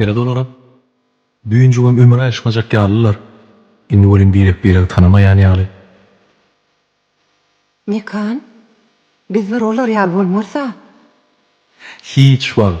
Sered olara, Düýnjigem ömür aýryşmajak ýalylar, indi welin birek-biregi tanamaýan ýaly. Mekan, Biz bir olar ýaly bolmarys-a. Hiç wagt.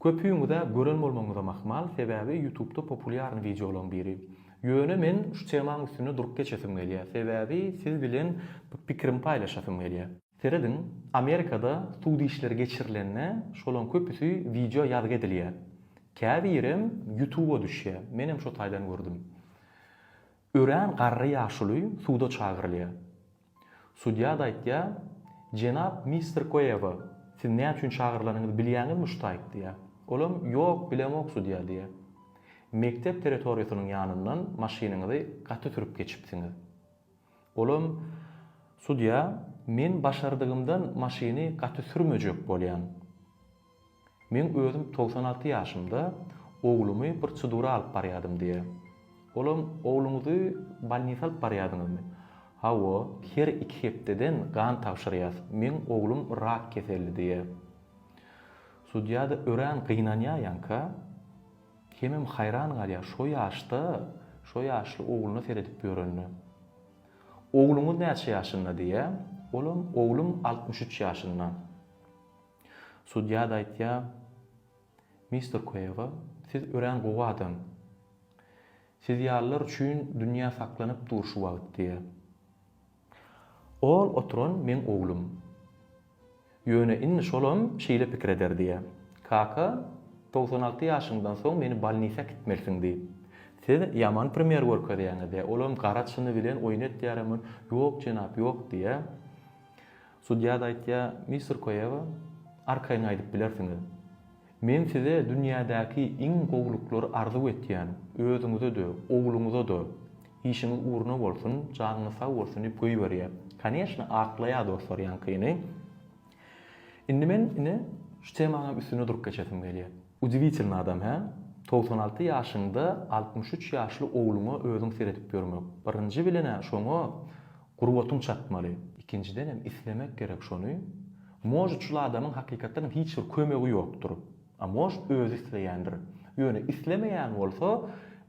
Köpüňizä gören bolmagyňyzam ahmal, sebäbi ýutubda populýarny wideolaň biri. Ýöne men şu temaň üstünde durup geçesim gelýä, sebäbi siz bilen pikirimi paýlaşasym gelýä. Serediň, Amerikada sud işleri geçirilende şolaň köpüsi wideo ýazgy edilýä. Käbirem ýutuba düşýä. Menem şo taýdan gördüm. Örän garry ýaşuly suda çagyrylýar. Sudýa-da aýtýar, Jenap mister Koewa, siz näme üçin çagyrylanyňyzy bilýäňizmi şu taýyk diýýär. Olam, Ýok, bilemok, sudýa diýýär. Mekdep territoriýasynyň ýanyndan maşynyňyzy gaty sürüp geçipsiňiz. Olam, Sudýa, men başardygymdan maşyny gaty sürmejek bolýan. Men özüm togsan alty ýaşymda oglumy prosedura alyp barýadym diýýär. Olam, Ogluňyzy bolnisa alyp barýadyňyzmy? Hawa, her iki hepdeden gan tabşyrýas, meň oglum rak keselli diýýär. Sudýa-da örän gynanýar ýaňka. Hemem haýran galýar, şo ýaşda, şo ýaşly ogluna seredip ýörenine. Ogluňyz näçe ýaşynda diýýär. Olam, Oglum altmyş üç ýaşynda. Sudýa-da aýtýar, Mister Kuega, siz örän gowy adam. Siz ýalylar üçin dünýä saklanyp dur şu wagt, diýýär. Ol oturan meň oglum. Ýöne indi şolam şeýle pikir eder, diýýär. Kaka, togsan alty ýaşyňdan soň meni bolnisa äkitmelisiň, diýip. Siz ýaman primer görkezýäňiz, diýýär. Olam gara çyny bilen oýun etýär hem ol, Ýok, jenap, ýok, diýýär. Sudýa-da aýtýar, Mister Koewa, arkaýyn aýdyp bilersiňiz. Men size dünýädäki iň gowulyklary arzuw etýän, özüňize-de, ogluňyza-da. Işiňiz ugruna bolsun, janyňyz sag bolsun diýip goýberýär. Koneşna, aklaýar dostlar ýaňkyny. Indi men, ine, şu temaňam üstünde durup geçesim gelýär. Udiwitilnyý adam, hä? Togsan alty ýaşyňda altmyş üç ýaşly ogluňa özüň seredip ýörmek. Birinji bilen-ä şoňa Gurbatyň çatmaly. Ikinjidenem islemek gerek şony. Možd şul adamyň hakykatdanam hiç bir kömegi ýokdur. A možd özi isleýändir. Ýöne islemeýän bolsa,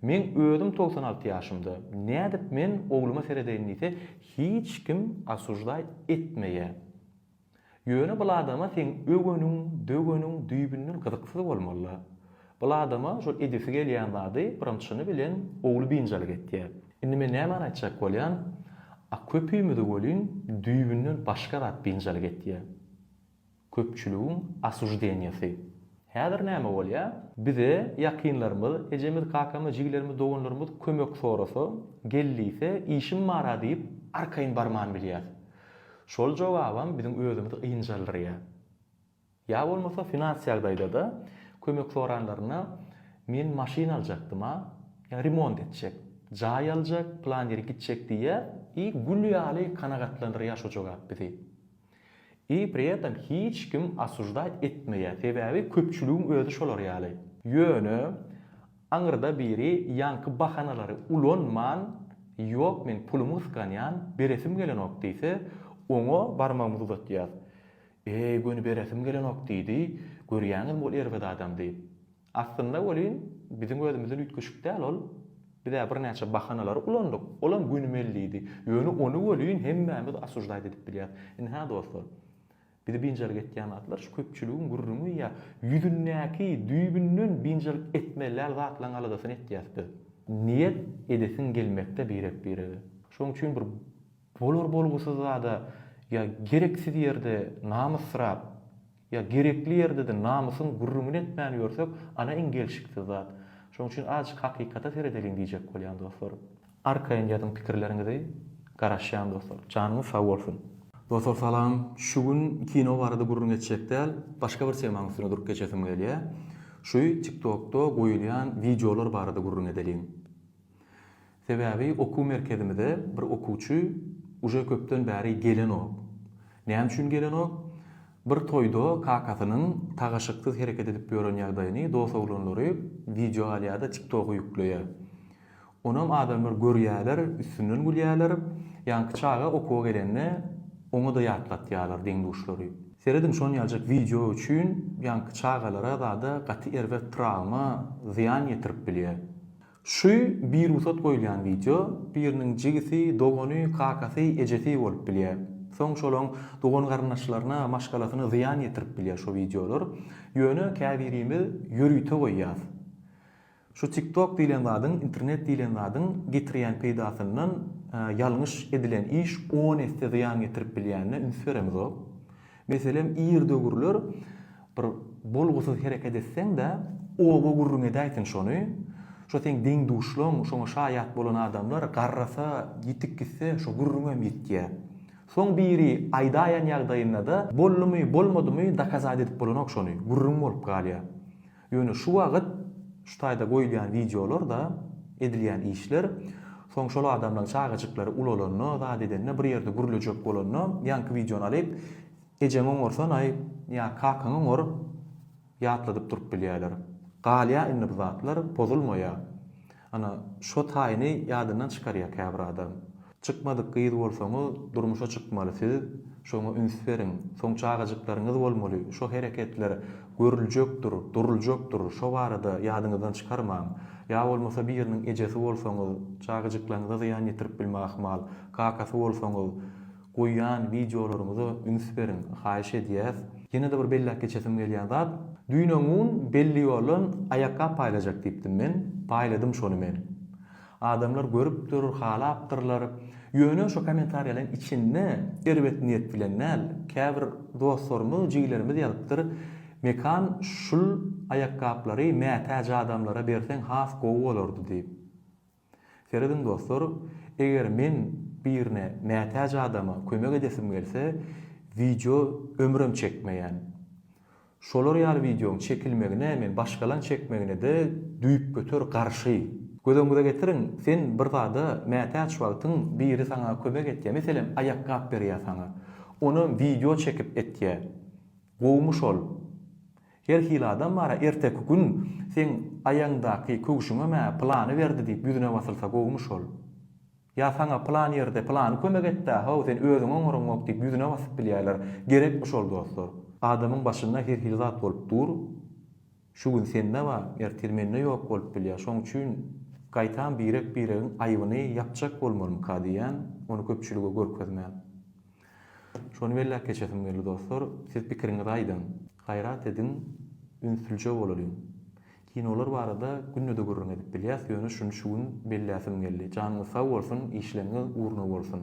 meň özüm togsan alty ýaşymda, nädip men ogluma seredeýin diýse, hiç kim osuždaý etmeýä. Ýöne bul adama seň öweniň, döweniň düýbünden gyzyksyz bolmaly-la. Bul adama şol edesi gelýän zady birinçini bilen ogly biynjalyk etýär. Indi men nämäni aýtjak bolýan, a köpimizi welin düýbünden başga zat biynjalyk etýär. Köpçüligiň asuždeniýasy. Häzir näme bolýar? Bize ýakynlarymyz, ejemiz, kakamyz, jigilerimiz, doganlarymyz kömek sorasa, gel diýse, işim bar-a diýip, arkaýyn barman bilýäs. Şol jogabam biziň özümizi ynjaldyrýar. Ýa bolmasa finans ýagdaýda-da kömek soranlarynda men maşyn aljakdym-a, ýa remont etjek, jaý aljak, plan ýere gitjek diýýär i gül ýaly kanagatlandyrýar şo jogap bizi. I pri etem hiç kim osujdaýt etmeýär, sebäbi köpçüligiň özi şolar ýaly. Ýöne Aňyrda biri ýaňky bahanalary ulanman, Ýok, men pulumy gysganýan, beresim gelenok diýse, oňa barmagymyzy uzatýas. Eý, göni beresim gelenok diýdi, görýäňizmi ol erbet adam diýip. Aslynda welin, biziň özümizden üýtgeşik däl ol. Biz-ä birnäçe bahanalary ulandyk, olam göni mellidi. Ýöne ony welin hemmämiz osuždaýt edip bilýäs. Ynha, dostlar. Bizi biynjalyk etýän zatlar şu köpçüligiň gürrüňi ýa ýüzündäki düýbünden biynjalyk etmezläl zatlaryň aladasyny etýäs biz. Niýet edesiň gelmekde birek-birege. Şoň üçin bir bolar bolgusyz zada ýa gereksiz ýerde namysyrap ýa gerekli ýerde-de namysyň gürrüňini etmän ýörsek ana iň gelşiksiz zat. Şoň üçin azjyk hakykata seredeliň diýjek bolýan dostlar. Arkaýyn ýazyň pikirleriňizi garaşýan dostlar. Janyňyz sag bolsun. Dostlar salam, şu gün kino barada gürrüň etjek däl, başga bir temaň üstüne durup geçesim gelýä. Şuy tiktokda goýulýan wideolar barada gürrüň edeliň. Sebäbi okuw merkezimize bir okuwçy uje köpden bäri gelenok. Näme üçin gelenok? Bir toýda kakasynyň tagaşyksyz hereket edip ýören ýagdaýyny dos-oglanlary wideo alýada tiktoga ýükleýä. Onam adamlar görýärler, üstünden gülýärler. Ýaňky çaga okuwa gelende oňa-da ýatlatýarlar deň-duşlary. Serediň şon ýaljak wideo üçin ýaňky çagalara zada gaty erbet trawma, zyýan ýetirip bilýär. Şü birugsat goýulýan wideo, biriniň jigisi, dogany, kakasy, ejesi bolup bilýär. Soň şolaň dogan-garyndaşlaryna, maşgalasyna zyýan ýetirip bilýär şo wideolar. Ýöne käbirimiz ýörite goýýas. Şu tiktok diýlen zadyň internet diýlen zadyň getirýän peýdasyndan ýalňyş edilen iş on esse zyýan getirip bilýänine üns beremzok. Meselem ir döwürler bir bolgusyz hereket etseň-de oba gürrüň edäýsin şony, şo seň deň-duşlaň, şoňa şaýat bolan adamlar garrasa, ýitip gitse şo gürrüňem ýitýä. Soň biri aýdaýan ýagdaýynda-da boldumy, bolmadymy dokazat edip bolanok şony, gürrüň bolup galýa. Ýöne şu wagyt şu taýda goýulýan wideolar-da, edilýän işler, soň şol adamlaň çagajyklary ulalanda, zat edende, bir ýerde gürlejek bolanda, ýaňky wideony alyp, ejeňi oňarsan-aý ýa kakaňy oňar, ýatladyp durup bilýärler. Galýa indi bu zatlar, pozulmaýa. Ana, şo taýyny ýadyndan çykarýar käbir adam. Çykmadyk gyz bolsaňyz, durmuşa çykmaly siz, şoňa üns beriň. Soň çagajyklaryňyz bolmaly, şo hereketler görüljekdir, duruljakdyr, şo barada ýadyňyzdan çykarmaň. Ýa bolmasa biriniň ejesi bolsaňyz, çagajyklaryňyza zyýan ýetirip bilme ahmal, kakasy bolsaňyz, Goýýan wideolaryňyza üns beriň haýyş edýäs. Ýene-de bir belläp geçesim gelýän zat, düýn öňňun belli ýoldan aýakgap paýlajak diýipdim men, paýladym şony men. Adamlar görüpdir, halapdyrlar. Ýöne şo kommentariýalaryň içinde erbet niýet bilen däl, käbir dostlarymyz, jigilerimiz ýazypdyr, Mekan şul aýakgaplary mätäç adamlara berseň has gowy bolardy diýip. Serediň dostlar, eger men birine mätäç adama kömek edesim gelse, wideo ömrem çekmeýän. Şolar ýaly wideoň çekilmegine men başgalaň çekmegine-de düýpgöter garşy. Göz öňüňize getiriň, sen bir zada mätäç wagtyň biri saňa kömek etýä, meselem aýakgap berýä saňa. Onam wideo çekip etýä. Gowumy şol? Her hili adam bar-a, erteki gün seň aýaňdaky köwşüňem-ä pylany berdi diýip ýüzüne basylsa gowumy şol? Ýa saňa pylan ýerde pylany kömek etdi-ä, haw, sen özüň oňaryňok diýip ýüzüne basyp bilýärler. Gerekmi şol dostlar? Adamyň başynda her hili zat bolup dur. Şu gün sende bar, ertir mende ýok bolup bilýär. Şoň üçin gaýtam birek-biregiň aýbyny ýapjak bolmalymyka diýýän, ony köpçülige görkezmän. Şony belläp geçesim geldi dostlar, siz pikiriňizi aýdyň, gaýrat ediň ünslije bolalyň. Kinolar barada günde-de gürrüň edip bilýäs, ýöne şuny şu gün belläsim geldi. Janyňyz sag bolsun, işleriňiz ugruna bolsun.